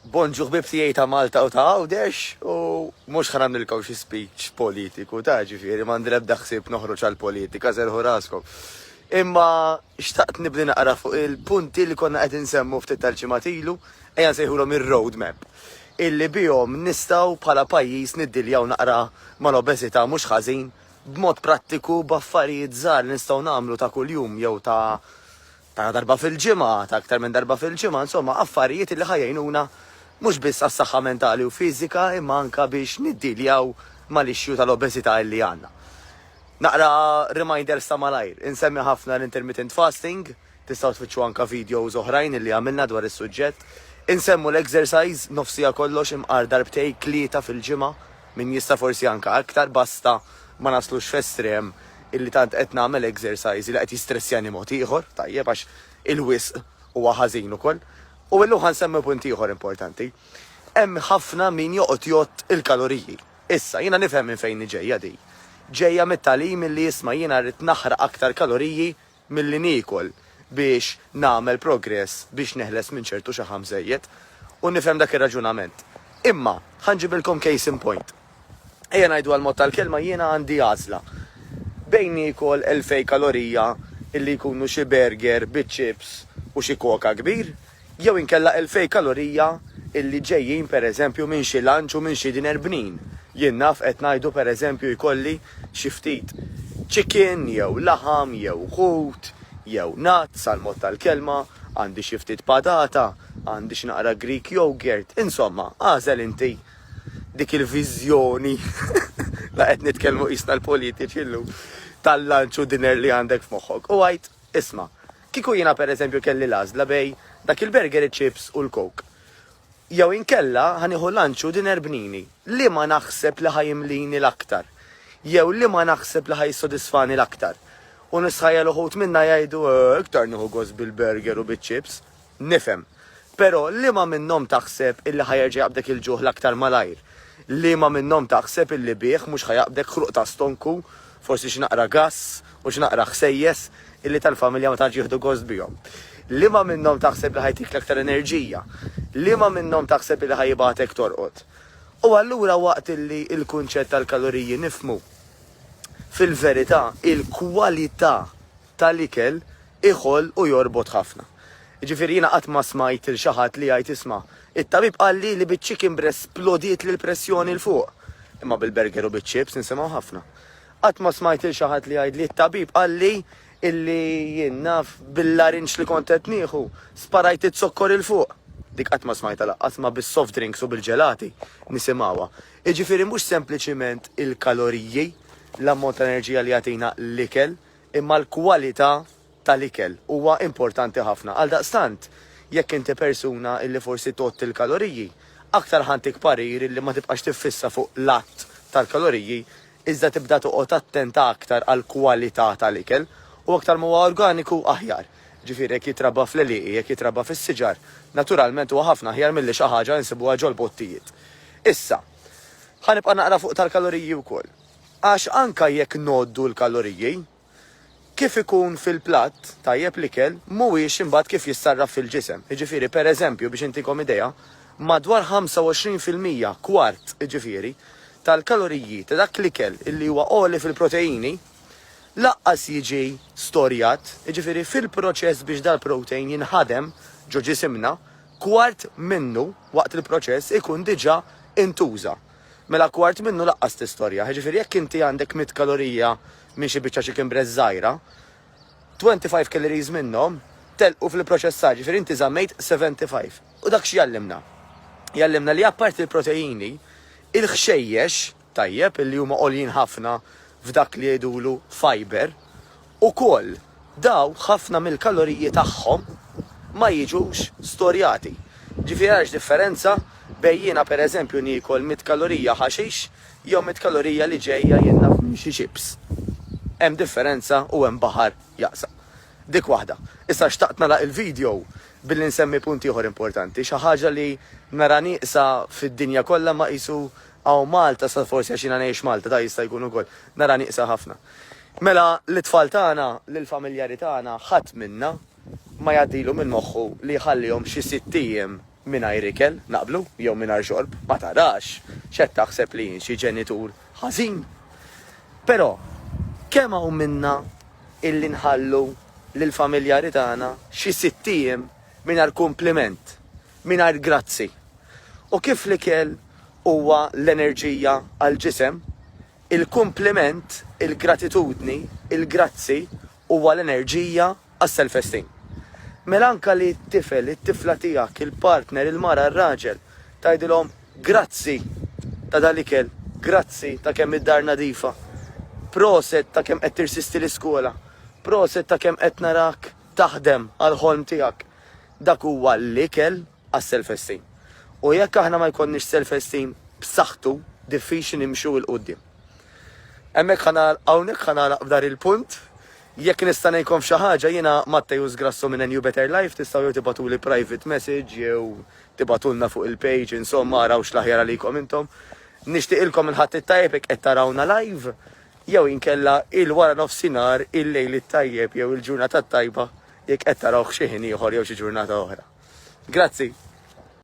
Bonġu ħbib tiegħi ta' Malta u ta' Għawdex u mhux ħa nagħmlilkom xi speech politiku ta' ġifieri m'għandi l-ebda ħsieb noħroġ għall-politika serħu raskom. Imma xtaqt nibni naqra fuq il-punti li konna qed insemmu ftit tal-ġimgħat ilu, ejja nsejħulhom ir-road map, illi bihom nistgħu bħala pajjiż niddiljaw naqra mal-obeżità mhux ħażin b'mod prattiku b'affarijiet żgħar li nistgħu nagħmlu ta' kuljum jew ta' ta' darba fil-ġimgħa, ta' aktar minn darba fil-ġimgħa, insomma affarijiet li ħa jgħinuna mhux biss għas-saħħa mentali u fiżika imma anke biex niddiljaw mal-issue tal-obeżità illi għandna. Naqra reminders ta' malajr, insemmi ħafna l-intermittent fasting, tistgħu tfittxu anke videos oħrajn illi għamilna dwar is-suġġett, insemmu l-exercise, nofs siegħa kollox imqar darbtej, tlieta fil-ġimgħa, min jista' forsi anke aktar basta ma naslux f'estrem illi tant qed nagħmel exercise li qed jistressjani mod ieħor, tajjeb għax il-wisq huwa ħażin ukoll. U illum ħa nsemmi punt ieħor importanti. Hemm ħafna min joqgħod jgħodd il-kaloriji. Issa, jiena nifhem minn fejn hi ġejja din. Ġejja mit-tagħlim illi isma' jiena rrid naħraq aktar kaloriji milli niekol biex nagħmel progress biex neħles minn ċertu xaħam żejjed. U nifhem dak ir-raġunament. Imma, ħa nġibilkom case in point. Ejja ngħidu għall-mod tal-kelma jiena għandi għażla bejn niekol elfej kalorija illi jkunu xi burger biċ-chips u xi coca kbir, Jew inkella elfej kalorija illi ġejjin pereżempju minn xi lunch u minn xi dinner bnin. Jien naf qed ngħidu pereżempju jkolli xi ftit chicken jew laħam jew ħut jew nuts għall-mod tal-kelma, għandi xi ftit patata, għandi x'naqra Greek yogurt, insomma, agħżel inti dik il-viżjoni, la qed nitkellmu qisna l-politiċi llum, tal-lunch u dinner li għandek f'moħħok u għid, isma', Kieku jiena pereżempju kelli l-għażla bejn dak il-burger, iċ-chips u l-coke, jew inkella ħa nieħu lunch u dinner b'nini, liema naħseb li ħa jimlini l-aktar? Jew liema naħseb li ħa jissodisfani l-aktar? U nisħajjel uħud minna jgħidu, eh, iktar nieħu gost bil-burger u biċ-chips. Nifhem. Però liema minnhom taħseb illi ħa jerġa' jaqbdek il-ġuħ l-aktar malajr? Liema minnhom taħseb illi bih mhux ħa jaqbdek ħruq ta' stonku Forsi xi naqra gass u xi naqra ħsejjes illi tal-familja ma tantx jieħdu gost bihom. Liema minnhom taħseb li ħa jtik l-aktar enerġija? Liema minnhom taħseb illi ħa jibgħatek torqod? U allura waqt illi l-kunċett tal-kaloriji nifhmu, fil-verità il-kwalità tal-ikel iħoll u jorbot ħafna. Jiġifieri jiena qatt ma smajt lil xi ħadd li jgħid isma', it-tabib qalli li biċ-chicken breast splodietli l-pressjoni 'l fuq. Imma bil-burger u biċ-chips nisimgħu ħafna. Qatt ma smajt lil xi ħadd li jgħidli t-tabib qalli illi jien naf bil-larinġ li kont qed nieħu sparajt iz-zokkor 'il fuq. Dik qatt ma smajtha lanqas imma bis-soft drinks u bil-ġelati nisimgħuha. Jiġifieri mhux sempliċiment il-kaloriji, l-ammont ta' enerġija li jagħtina l-ikel, Imma l-kwalità tal-ikel huwa importanti ħafna. Għaldaqstant, jekk inti persuna li forsi tgħodd il-kaloriji, aktar ħa ntik parir li ma tibqax tiffissa fuq l-għadd tal-kaloriji, iżda tibda toqgħod attenta aktar għall-kwalità tal-ikel. U aktar ma huwa organiku, aħjar. Ġifieri jekk jitrabba fl-għelieqi, jekk jitrabba fis-siġar, naturalment huwa ħafna aħjar milli xi ħaġa li nsibuha ġol-bottijiet. Issa, ħa nibqa' naqra fuq tal-kaloriji wkoll. Għax anke jekk ngħoddu l-kaloriji, kif ikun fil-platt tajjeb l-ikel mhuwiex imbagħad kif jissarraf fil-ġisem. Jiġifieri, per eżempju, biex intikom idea, madwar 25 fil-mija, kwart, jiġifieri, tal-kaloriji ta' dak l-ikel li huwa għoli fil-proteini lanqas jiġi storjat, jiġifieri fil-proċess biex dal-protein jinħadem ġo ġisimna, kwart minnu waqt il-proċess ikun diġà intuża. mela kwart minnu laqqas tistorja. Jiġifieri jekk inti għandek mitt kalorija minn xi biċċa chicken breast żgħira, 25 calories minnhom telqu fl-ipproċessar, jiġifieri inti żammejt 75. U dak x'jgħallimna? Jgħallimna li apparti l-proteini, il-ħxejjex, tajjeb, li huma għoljin ħafna f'dak li jgħidulu fiber, Ukoll, daw ħafna mill-kaloriji tagħhom ma jiġux storjati. Ġifieri għax differenza bejn jiena pereżempju niekol mitt kalorija ħaxix jew mitt kalorija li ġejja jien naf minn xi chips? Hemm differenza u hemm baħar jaqsa'. Dik waħda. Issa xtaqt nagħlaq il-video billi nsemmi punt ieħor importanti, xi ħaġa li nara nieqsa fid-dinja kollha imma qisu hawn Malta, sa forsi għax jiena ngħix Malta, da jista' jkun ukoll, nara nieqsa ħafna. Mela lit-tfal tagħna, lill-familjari tagħna, ħadd minna ma jgħaddilu minn moħħu li jħallihom xi sitt ijiem mingħajr ikel, naqblu? Jew mingħajr xorb. Ma tarax x'qed taħseb li jien xi ġenitur ħażin? Però, kemm hawn minna illi nħallu lill-familjari tagħna xi sitt ijiem mingħajr kumpliment, mingħajr grazzi? U kif l-ikel huwa l-enerġija għall-ġisem, Il-kumpliment, il-gratitudni, il-grazzi huwa l-enerġija għas-self-esteem. Mela anke li t-tifel, it-tifla tiegħek, il-partner, il-mara, r-raġel, tgħidilhom grazzi ta' dal-ikel, grazzi ta' kemm id-dar nadifa, proset ta' kemm qed tirsisti l-iskola, proset ta' kemm qed narak taħdem għall-ħolm tiegħek, dak huwa l-ikel. għas-self esteem. U jekk aħna ma jkollniex self esteem b'saħħtu diffiċli nimxu 'il quddiem. Hemmhekk ħa nagħlaq hawnhekk ħa nagħlaq f'dar il-punt. Jekk nista' ngħinkom f'xi ħaġa jiena Matteo Sgrasso minn A New Better Life tistgħu jew tibgħatuli private message jew tibgħatulna fuq il-page insomma araw x'l-aħjar għalikom intom. Nixtieqilkom il-Ħadd it-tajjeb jekk qed tarawna live jew inkella il-wara nofsinhar, il-lejl it-tajjeb jew il-ġurnata t-tajba jekk qed tarawh xi ħin ieħor jew xi ġurnata oħra. Grazzi!